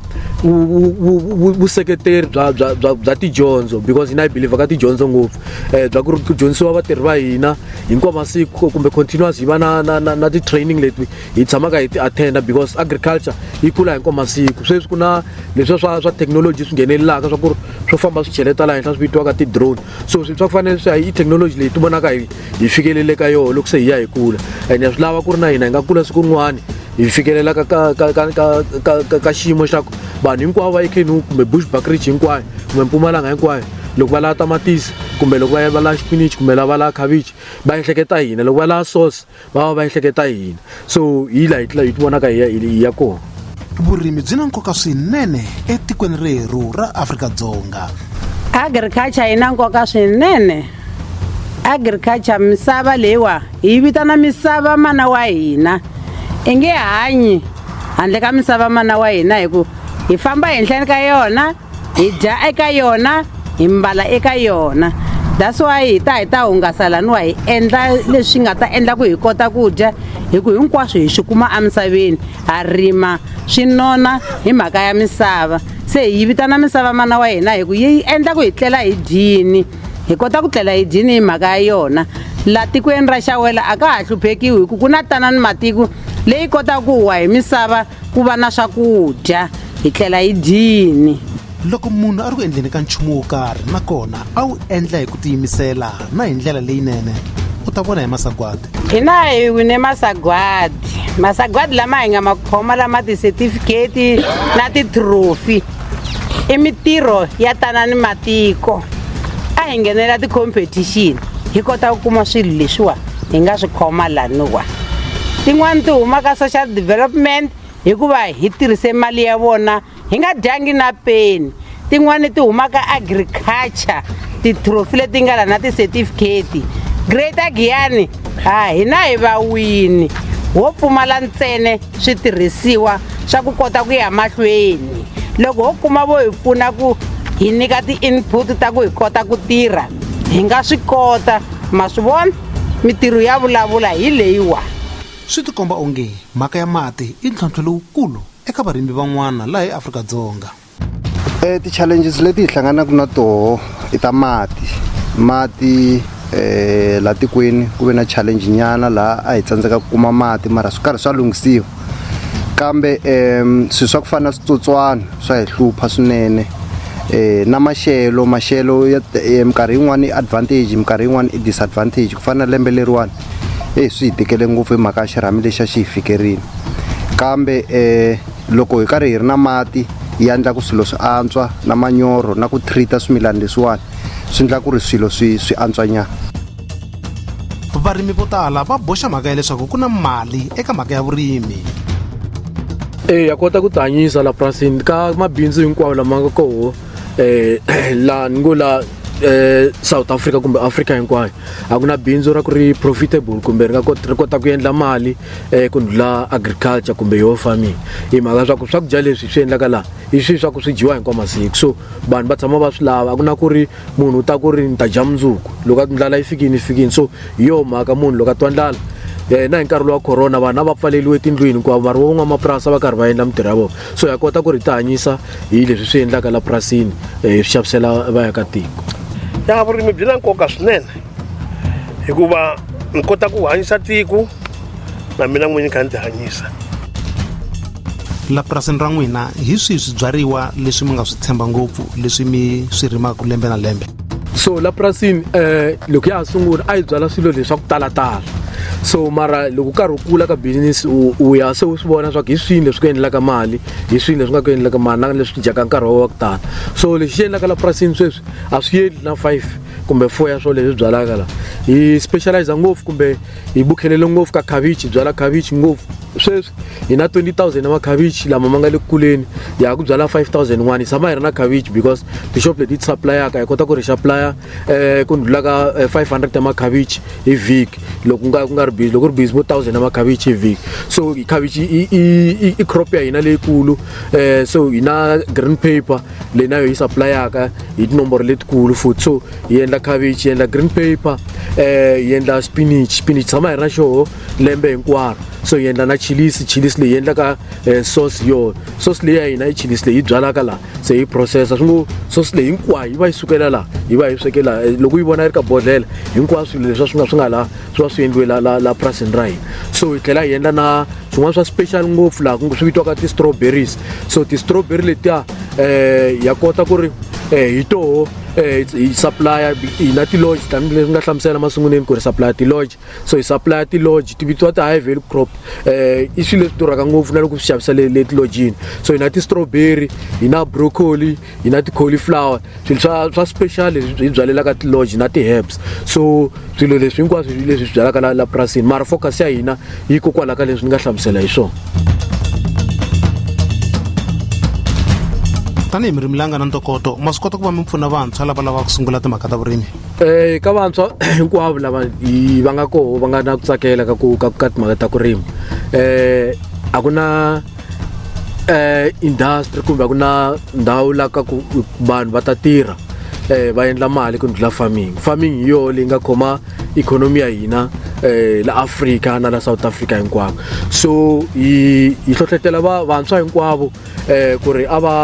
vuseketeri bya bya bya bya tidyondzo because hina hi believer ka tidyondzo ngopfu um bya ku ri ku dyondzisiwa vatirhi va hina hinkwawu masiku kumbe continuous hi va na na na na ti-training leti hi tshamaka hi ti attenda because agriculture yi kula hi nkwama siku sweswi ku na leswiya swa swa technology swi nghenelelaka swa ku ri swo famba swi cheleta laha henhla swi vitiwaka ti-drone so swi swa ku fanele swi hi technology leyi ti vonaka hi hi fikelele ka yona loko se hi ya hi kula and ya swi lava ku ri na hina hi nga kula siku rin'wana hi fikelelaka ka ka ka ka ka ka ka xiyimo xa ku vanhu hinkwavo va ekhenu kumbe bush bakridge hinkwayo kumbe mpumalanga hinkwayo loko va lava tamatisi kumbe loko va va lava xipinichi kumbe lava va lava khavichi va ehleketa hina loko va lava sauce va va va ehleketa yini so hi laha hi ti vonaka hi ya hi ya kona vurimi byi na nkoka swinene etikweni rerhu ra afrika-dzonga agriculture yi na nkoka swinene agriculture misava leyiwa hi vitana misava mana wa hina i nge hanyi handle ka misava mana wa hina hi ku hi famba henhleni ka yona hi dya eka yona hi mbala eka yona that's why hi ta hi ta hungasa laniwa hi endla leswi nga ta endla ku hi kota ku dya hi ku hinkwaswo hi swi kuma emisaveni ha rima swi nona hi mhaka ya misava se hi yi vitana misava mana wa hina hi ku yi endla ku hi tlela hi dyini hi kota ku tlela hi dyini hi mhaka ya yona laha tikweni ra xawela a ka ha hluphekiwi hi ku ku na tanani matiko leyi kotaka ku huwa hi misava ku va na swakudya hi tlela hi dyini loko munhu a ri ku endleni ka nchumu wo karhi nakona a wu endla hi ku tiyimisela na hi ndlela leyinene u ta vona hi masagwadi hina hi wine masagwadi masagwadi lama hi nga ma khoma lama tisetifiketi na titrophy i mitirho ya tanani matiko a hi nghenela ti-competition hi kota ku kuma swilo leswiwani hi nga swi khoma laniwa tin'wani ti huma ka social development hikuva hi tirhise mali ya vona hi nga dyangi na peni tin'wani ti huma ka agriculture ti-trophy leti nga la na ti-certificate greater giyani ha hina hi vawini wo pfumala ntsene switirhisiwa swa ku kota ku ya mahlweni loko ho kuma vo hi pfuna ku hi nyika ti-input ta ku hi kota ku tirha hi nga swi kota ma swi vona mitirho ya vulavula hi leyiwa swi tikomba onge mhaka ya mati i ntlhontlho lowukulu eka varimi van'wana laha eafrika-dzonga e ti-challenges leti hi hlanganaka na toho i ta mati mati eh la tikweni ku ve na challenge nyana laha a hi tsandzeka ku kuma mati mara swi karhi swa lunghisiwa kambe um swilo swa ku fana na switsotswana swa hi hlupha swinene eh na maxelo maxelo ya eh, minkarhi yin'wana i advantage minkarhi yin'wana i disadvantage ku fana na lembe leriwani eyi swi hi tikele ngopfu hi mhaka ya xirhami lexi a xi hi fikerini kambe um loko hi karhi hi ri na mati yi endla ku swilo swi antswa na manyoro na ku treat-a swimilana leswiwani swi endla ku ri swilo swi swi antswanyana varimi vo tala va boxa mhaka ya leswaku ku na mali eka mhaka ya vurimi eya kota ku tihanyisa la purasini ka mabindzu hinkwawo lama nga koho eh, um la ni ngo la eh, south africa kumbe africa hinkwayo a ku na bindzu ra ku ri profitable kumbe ri nga ri kota ku endla mali um ku ndlula agriculture kumbe yoho farming hi mhaka leswaku swakudya leswi swi endlaka laha hi swilo swa ku swi dyiwa hinkwa masiku so vanhu va tshama va swi lava a ku na ku ri munhu u ta ku ri ni ta dya mundzuku loko a ndlala yi fikini yi fikini so hi yoho mhaka munhu loko a twa ndlala um na hi nkarhi lowa corona vanhu a va pfaleliwe tindlwini hikuva vanhu va van'wamapurasi a va karhi va endla mintirho ya vona so ha kota ku ri hi tihanyisa hi leswi swi endlaka la purasini um hi swi xavisela vaakatiko ya vurimi byi na nkoka swinene hikuva ni kota ku hanyisa tiko na mina n'winyi kha ni tihanyisa la purasini ra n'wina hi swihi swibyariwa leswi mi nga swi tshemba ngopfu leswi mi swi rimaka lembe na lembe so la purasini um eh, loko ya ha sungula a yi byala swilo leswi swa ku talatala so mara loko karhi u kula ka business u ya se u swi vona swa ku hi swini leswi ku endlaka mali hi swini leswi nga ku endlaka mali na leswi dyaka nkarhi wa ku tala so lexi xi endlaka la purasini sweswi a swi yeli na five kumbe four ya swo leswi byalaka la hi specialize ngopfu kumbe hi bukhelele ngopfu ka khavichi byala khavichi ngopfu sweswi hi na 20000 ya makhavichi lama ma nga le kuleni hi ya ku byala 5001 hi tshama hi ri na khavichi because tixop leti ti supplyaka hi kota ku ri supplya um eh, ku ndlula ka 500 eh, ya makhavichi hi vhiki loko nga ku nga ri busy loko ri busy vo 1000 ya makhavichi hi vhiki so khavichi i crop ya hina leyikulu um so hi na green paper leyi na yo yi supplyaka hi tinomboro letikulu futhi so yi endla cabbage yi endla green paper um yi endla spinach spinach tshama hi ri na xoho lembe hinkwaro so yi endla na chilisi chilisi leyi endlaka um sauce yoho sauce leyi ya hina i chilisi leyi yi byalaka laha se yi processa swi ngo sauce leyi hinkwayo yi va yi sukela laha yi va yi sweke laha eh, loko yi vona yi ri ka bodlela hinkwaswo swilo leswi swi nga swi nga laha swi va swi endliwe la la la purasini ra hina so hi tlhela hi endla na swin'wana swa special ngopfu laha ku swi vitiwaka ti-strawberries so ti-strawberry letiya um ya kota ku ri um hi toho um hi supplya hina tilodge tanihi leswi nga hlamusela masunguleni ku ri supplya tilodge so hi supplya tilodge ti vitiwa ti-high value crop um i swilo leswi durhaka ngopfu na loko swi xavisa le le tilojini so hi na ti-strawberry hi na broccoli yi na ti-cauliflower swilo swa swa special leswi hi byalelaka ti-lodge na ti-herbs so swilo leswi hinkwaswo leswi swi byalaka la la purasini mara focus ya hina yi kokwala ka leswi ni nga hlamusela hi swona tanihi mi rimilanga na ntokoto ma swi kota ku va mi pfuna vantshwa lava lavaka ku sungula timhaka ta vurimi um ka vantshwa hinkwavo lava va nga koho va nga na ku tsakela ka ku ka ka timhaka ta ku rima um a ku na eh industry kumbe ku na ndhawu la ka ku vanhu va ta tirha eh va endla mali ku ndlula farming farming hi yona leyi nga khoma ikhonomi ya hina eh la Africa na la South Africa hinkwako so yi yi hlohlotela va vantshwa hinkwavo eh ku ri a va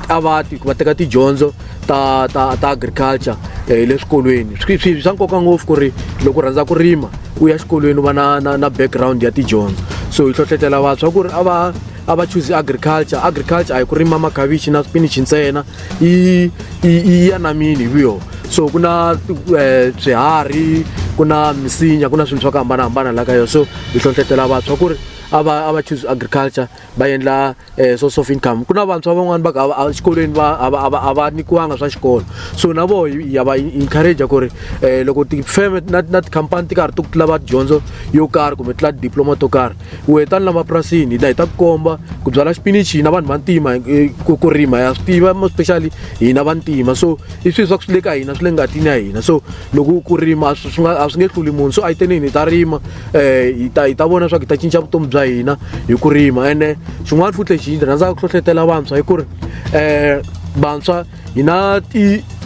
a va va teka tidyondzo ta ta ta agriculture eh, le swikolweni swi swi swa nkoka ngopfu ku ri loko u rhandza ku rima u ya xikolweni u va na na na background ya tidyondzo so hi hlohletela vantshwa ku ri a va a va choose agriculture agriculture a hi ku rima makhavichi na swipinichi ntsena yi yi ya namini hi vuyo so ku na eh, swiharhi ku na misinya ku na swilo swa ku hambanahambana la ka yona so hi hlohletela vantshwa ku ri a va a va choose agriculture va endla eh, source of income ku na vantshwa van'wani va ka exikolweni va a va nyikiwanga swa xikolo so na vo ya va encourage ku ri eh, loko tifeme na na tikhampani ti karhi ti ku lava dyondzo yo karhi kumbe tla diploma to karhi u heta ni lamapurasini hina hi ta ku komba ku byala xipinichi hina vanhu va ntima eh, ku rima ya swi tiva especially hina va ntima so i swilo swa ku swi le ka hina swi le ngatini ya hina so loko ku rima a swi nga a swi nge hluli munhu so a yi tenini hi ta rima um hi ta hi ta vona leswaku hi ta cinca vutomi bya hina hi ku rima ene xin'wana futhi lexi hi rhandzaka ku hlohletela vantshwa hi ku ri um vantshwa hi na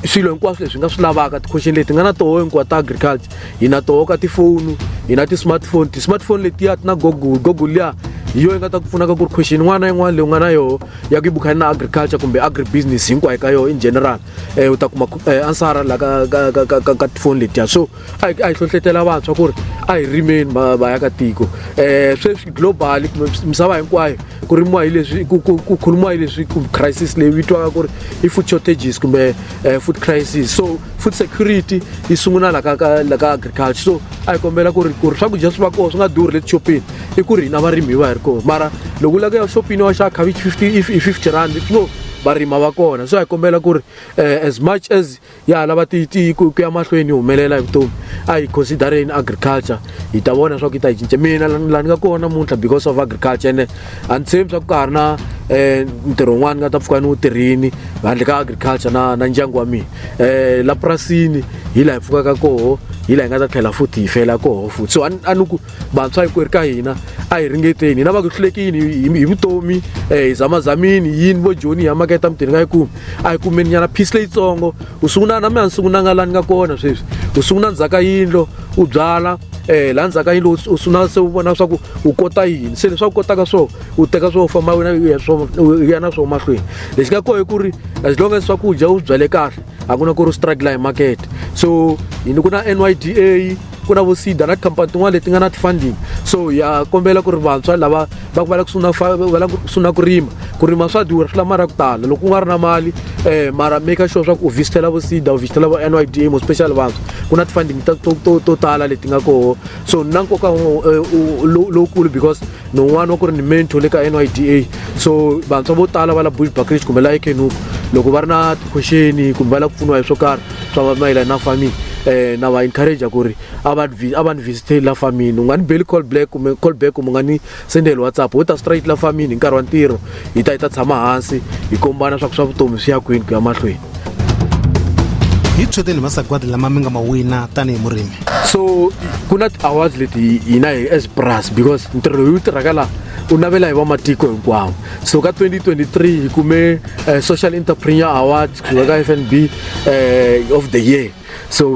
swilo hinkwaswo leswi nga swi lavaka ti-question leti nga na toho hinkwa ta agriculture hi na toho ka tifoni hi na ti-smartphone ti-smartphone letiya ti na google google liya hi yo yi nga ta ku pfunaka ku ri question yin'wana na yin'wana leyi u nga na yoho ya ku yi bukhani na agriculture kumbe agribusiness hinkwayo ka yoho in general um u ta kuma eh, ansara la ka ka ka ka ka ka tifoni letiya so a hi a hi hlohletela vantshwa ku ri a hi rimeni va va ya ka tiko um sweswi global misava hinkwayo ku rimiwa hi leswi ku ku ku khulumiwa hi leswi ku crisis leyi vitiwaka ku ri i food shortages kumbe um food crisis so food security yi sungula la ka ka la ka agriculture so a hi kombela ku ri ku ri swakudya swi va kona swi nga durhi le tixopini i ku ri hina varimi hi va hi ri kona mara loko u lava ku ya xopini wa xava khavichi fifty i fifty rand no varima va kona so hi kombela ku ri eh, as much as ya ha lava ku ya mahlweni yi humelela hi vutomi a hi considereni agriculture hi ta vona swa ku yi ta yi cinca mina laha ni nga kona muntlha because of agriculture ene a ni tshembi swa ku ka ha ri na um ntirho wun'wana ni nga ta pfuka ni wu tirhini handle ka agriculture na na ndyangu wa mina um la purasini hi laha hi pfukaka koho hi laha hi nga ta tlhela futhi hi fela koho futhi so a ni ku vantshwa hinkwerhu ka hina a hi ringeteni hina va ku hlulekini hi vutomi um hi zamazamini yini vo joni hi ya maketa mutini ka yi kumi a yi kumeni nyana phisi leyitsongo u sungula na mina ni sungula nga lani nga kona sweswi u sungula ndzhaka yindlo u byala um laha ndzhaka yindlo u sungula se u vona swa ku u kota yini se leswi a ku kotaka swo u teka swo famba wena u ya swo u ya na swo mahlweni lexi nga koho i ku ri as long as swakudya u swi byale kahle a ku na ku ri u struggle hi makete so yini ku na n y d a ku na vo sida na tikhampani tin'wana leti nga na ti-funding so ya kombela ku ri vantshwa lava va ku va la kusungula va la kusungula ku rima ku rima swa durha swi lava mali ya ku tala loko u nga ri na mali um mara maker sure swa ku u visitela vo sida u visitela vo n y d mo special vantshwa ku na ti-funding to tala leti nga koho so na nkoka eh, lowukulu because ni un'wana wa ku ri ni mentor le ka nyda so vantshwa vo tala va la bush buckridge kumbe la ekenup loko va ri na tikhwexeni kumbe va lava ku pfuniwa hi swo karhi swa mayelana na farming um na va encourage ku ri a va a va ni visiteli la farmini u nga ni beli call black kumbe call back kumbe u nga ni sendeli whatsapp wo ta straight la farmini hi nkarhi wa ntirho hi ta hi ta tshama hansi hi kombana swa ku swa vutomi swi ya kwini ku ya mahlweni hi tsheteni masagwadi lama mi nga ma wina tanihi murimi so ku na ti-awards leti hina hi as pras because ntirho lowu tirhaka laha u navela hi vamatiko hinkwawo so ka 2023 hi kume uh, social entrepreneur award kusuka ka f n b uh, eh, of the year so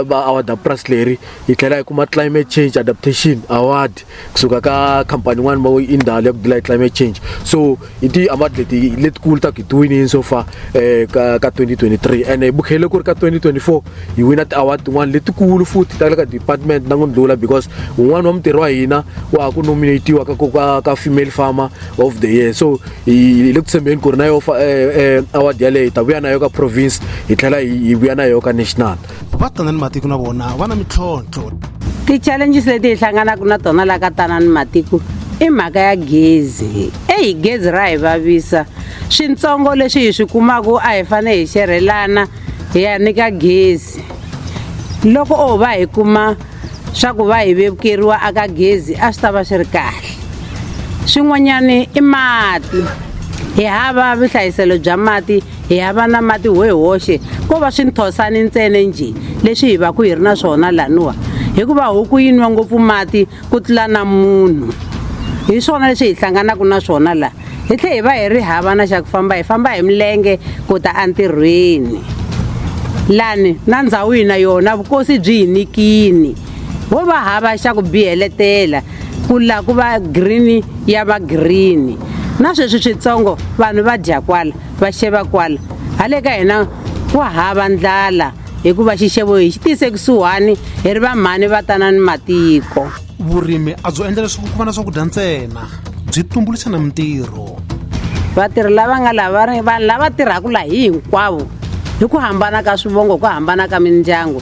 va award pras leri hi tlhela hi kuma climate change adaptation award kusuka ka khampani yin'wana va i ndhawu ya ku dila hi climate change so hi ti-award leti letikulu ta ku hi ti winini so far um ka ka 2023 ene hi bukhele ku ri ka 2024 hi wina ti-award tin'wana letikulu futhi ta le ka department na ngundlula because un'wana wa mutirhi wa hina wa ha ku nominatiwa ka ka ka female farmer of the year so hi le ku tshembeni ku ri na yo eh, eh, award yaleyo hi ta vuya na yo ka province hi tlhela hi vuya na yo ka national va tana ni matiko na vona va na mintlhontlho ti-challenges leti hi hlanganaka na tona laha ka tana ni matiko i mhaka ya gezi eyi gezi ra hi vavisa swintsongo leswi hi swi kumaka a hi fanele hi xerhelana hi ya nyika gezi loko o va hi kuma swa ku va hi vevukeriwa aka gezi a swi ta va swi ri kahle swin'wanyana i mati hi hava vuhlayiselo bya mati hi hava na mati ho hi hoxe ko va swi nthosani ntsena njhe leswi hi va ku hi ri na swona laniwa hikuva huku yi nwa ngopfu mati ku tlula na munhu hi swona leswi hi hlanganaka na swona laha hi tlhe hi va hi ri hava na xa ku famba hi famba hi milenge ku ta entirhweni lani na ndhawu yina yona vukosi byi hi nikini ho va hava xa ku biheletela ku la ku va green ya va green na sweswi switsongo vanhu va dya kwala va xeva kwala hale ka hina ku hava ndlala hikuva xixevo hi xi tise kusuhani hi ri vamhani va tana ni matiko vurimi a byo endla leswaku ku va na swakudya ntsena byi tumbuluxa na mintirho vatirhi lava nga lava vanhu lava tirhaka laha hi hinkwavo hi ku hambana ka swivongo ku hambana ka mindyangu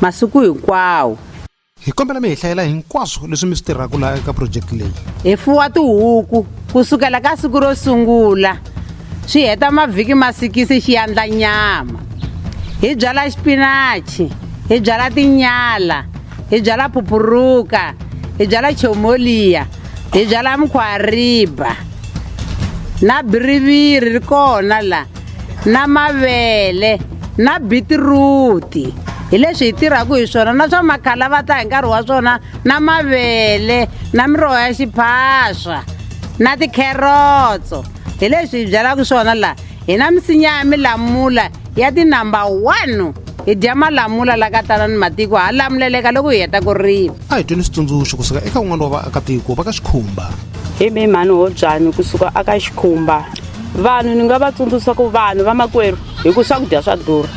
masiku hinkwawo. Hi kombela mi hi hlayela hinkwaswo leswi mi swi tirhaka laha eka project leyi. Hi fuwa tihuku ku sukela ka siku ro sungula swi heta mavhiki ma sikisi xi yandla nyama. Hi byala xipinachi, hi byala tinyala, hi byala phupuruka, hi byala chomoliya, hi byala mukhwariba na biriviri ri kona la. na mavele na bitiruti hi leswi hi tirhaka hi swona na swa makhala va ta hi nkarhi wa swona na mavele na miroho ya xiphaswa na tikherotso hi leswi hi byalaka swona laha hi na misinya ya milamula ya tinumber one hi dya malamula la ka tala ni matiko ha lamuleleka loko hi heta ku rima a hi tweli switsundzuxo kusuka eka un'wana wa vaakatiko va ka xikhumba hi mimhani wo byanyi kusuka aka xikhumba vanhu ni nga va tsundzuxa ku vanhu vamakwerhu hi ku swakudya swa durha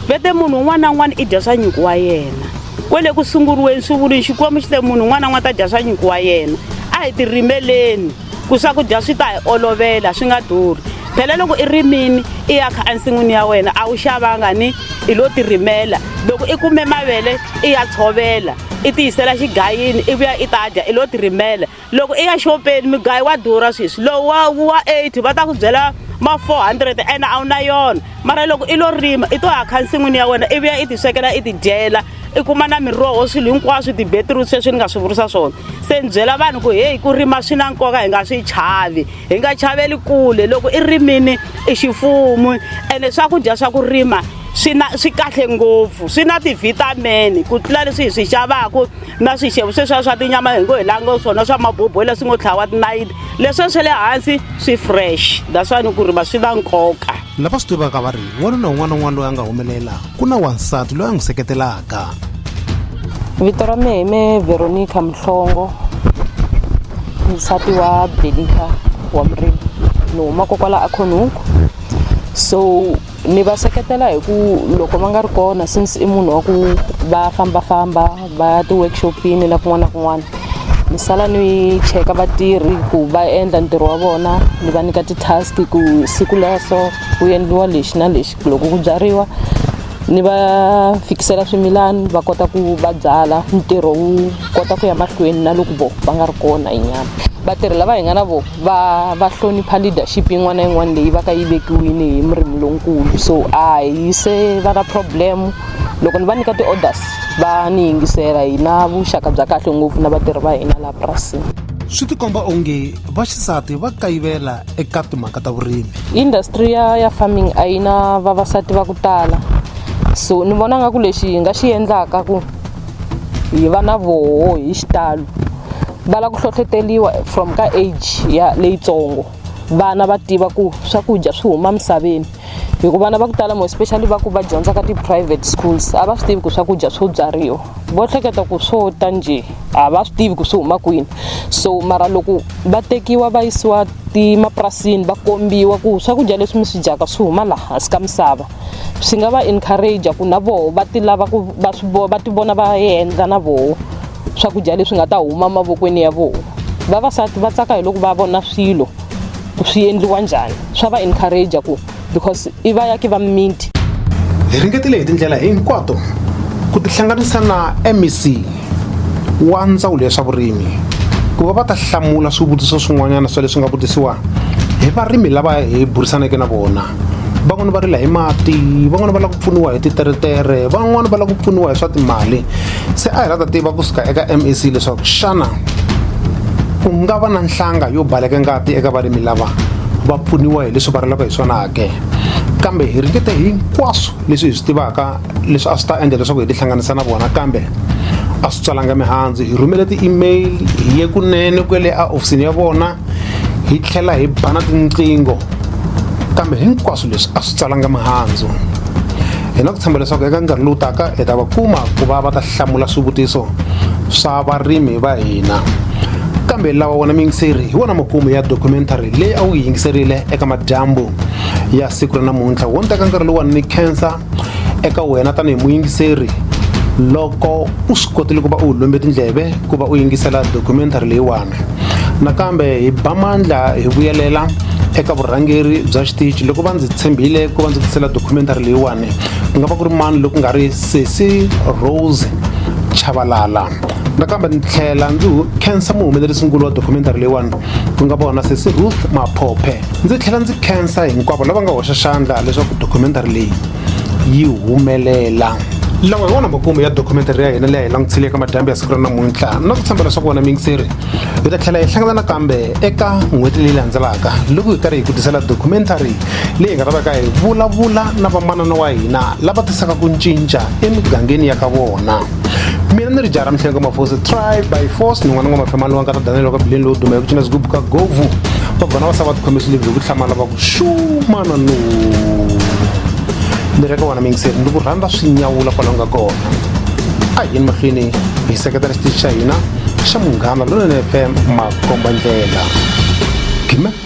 vete munhu un'wana na un'wana i dya swa nyuku wa yena kwele ku sunguriweni swi vuli xikwembu xi te munhu un'wana na un'wana ta dya swa nyuku wa yena a hi tirimeleni ku swakudya swi ta hi olovela swi nga durhi phela loko i rimini i ya kha ensin'wini ya wena a wu xavanga ni i lo tirimela loko i kume mavele i ya tshovela i tiyisela xigayini i vuya i ta dya i lo tirimela loko i ya xopeni migayo wa durha sweswi lowu wa wa 80 va ta ku byela ma 400 ene a wu na yona mara loko i lo rima i to ya kha nsin'wini ya wena i vuya i tiswekela i tidyela i kuma na miroho swilo hinkwaswo tibetirut sweswi ni nga swi vurisa swona se ni byela vanhu ku heyi ku rima swi na nkoka hi nga swi chavi hi nga chaveli kule loko i rimini i xifumu ene swakudya swa ku rima swi na swi kahle ngopfu swi na ti-vitamin ku tlula leswi hi swi xavaku na swixevo sweswiya swa tinyama hi ngo hi lango swona swa maboboyi leswi ngo tlhawa tinayiti leswiya swa le hansi swi fresh that's why ni ku ri va swi na nkoka lava swi tivaka va ri wanuna un'wana na un'wana loyi a nga humelela ku na wansati loyi a n'wi seketelaka vito ra mehe me veronica mhlongo nsati wa belika wa murimi ni huma kokwala akhonunku so ni va seketela hi ku loko va nga ri kona since i munhu wa ku va fambafamba va ya ti-workshop-ini na kun'wana na kun'wana ni sala ni cheka vatirhi ku va endla ntirho wa vona ni va nyika ti-task ku siku la so ku endliwa lexi na lexi loko ku byariwa ni va fikisela swimilani va kota ku va byala ntirho wu kota ku ya mahlweni na loko vo va nga ri kona hi nyama vatirhi lava hi nga na vona va va hlonipha leadership yin'wana na yin'wana leyi va ka yi vekiwile hi murimi lonkulu so a hi se va na problem loko ni va nyika ti-orders va ni yingisela hi na vuxaka bya kahle ngopfu na vatirhi va hina laha purasini swi tikomba onge vaxisati va kayivela eka timhaka ta vurimi industry ya ya farming a yi na vavasati va ku tala so ni vona nga ku lexi hi nga xi endlaka ku hi va na voho hi xitalo va lava ku hlohleteriwa from ka age ya leyitsongo vana va tiva ku swakudya swi huma misaveni hi ku vana va ku tala mo especially va ku va dyondza ka ti-private schools a va swi tivi ku swakudya swo byariwa vo hleketa ku swo ta njhe a va swi tivi ku swi huma kwini so mara loko va tekiwa va yisiwa timapurasini va kombiwa ku swakudya leswi mi swi dyaka swi huma laha hansi ka misava swi nga va encourage ku na voho va ti lava ku va swi va ti vona va endla na voho swakudya leswi nga ta huma mavokweni ya vona vavasati va tsaka hi loko va vona swilo swi endliwa njhani swa va encourage ku because i va yaki va mimiti hi ringetile hi tindlela hinkwato ku tihlanganisa na mec wa ndzawulo ya swa vurimi ku va va ta hlamula swivutiso swin'wanyana swa leswi nga vutisiwa hi varimi lava hi burisaneke na vona van'wana va rila hi mati van'wana va lava ku pfuniwa hi titeretere van'wana va lava ku pfuniwa hi swa timali se a hi la ta tiva kusuka eka mac leswaku xana ku nga va na nhlanga yo baleke ngati eka varimi lava va pfuniwa hi leswi va rilaka hi swona ke kambe hi ringete hinkwaswo leswi hi swi tivaka leswi a swi ta endla leswaku hi tihlanganisa na vona kambe a swi tswalanga mihandzu hi rhumele ti-email hi ye kunene kwele a ofisini ya vona hi tlhela hi bana tinqingho kambe hinkwaswo leswi a swi tsalanga mihandzu hi na ku tshemba leswaku eka nkarhi lowu taka hi ta va kuma ku va va ta hlamula swivutiso swa varimi va hina kambe lawa wona miyingiseri hi wona makumu ya documentary leyi a wu yi yingiserile eka madyambu ya siku ra namuntlha wo ni teka nkarhi lowuwani ni khensa eka wena tanihi muyingiseri loko u swi kotile ku va u lombe tindleve ku va u yingisela documentary leyiwani nakambe hi ba mandla hi vuyelela eka vurhangeri bya xitichi loko va ndzi tshembile ku va ndzi tisela documentary leyiwani ku nga va ku ri mani loku nga ri sesi rose chavalala nakambe ni tlhela ndzi khensa muhumelerisinkulu wa documentary leyiwani ku nga vona sesi ruth maphophe Ndzi tlhela ndzi khensa hinkwavo lava nga hoxa xandla leswaku documentary leyi yi humelela lawa hi wona makumu ya documentary ya hina leyi hi langutile eka madyambu ya siku ra namuntlha na ku tshembela leswaku wena mingiseri hi ta tlhela hi hlangana nakambe eka n'hweti leyi landzelaka loko hi karhi hi ku tisela documentary leyi nga ta veka hi vulavula na vamanana wa hina lava tisaka ku cinca emigangeni ya ka vona mina ni ri jara mihlengo mafosi try by force ni n'wana n'wa mafema lowa nkata danele waka bileni lowo duma hi ku cina swigubu ka govu va gona va sava va tikhome swilebyi hi ku hlamala va ku xumana no ni reka wena mingiseri ni ku rhandza swi nyawula kwala nga kona a hi yini mahlweni hi seketela xitichi xa hina xa munghana lonene fm makomba ndlela gime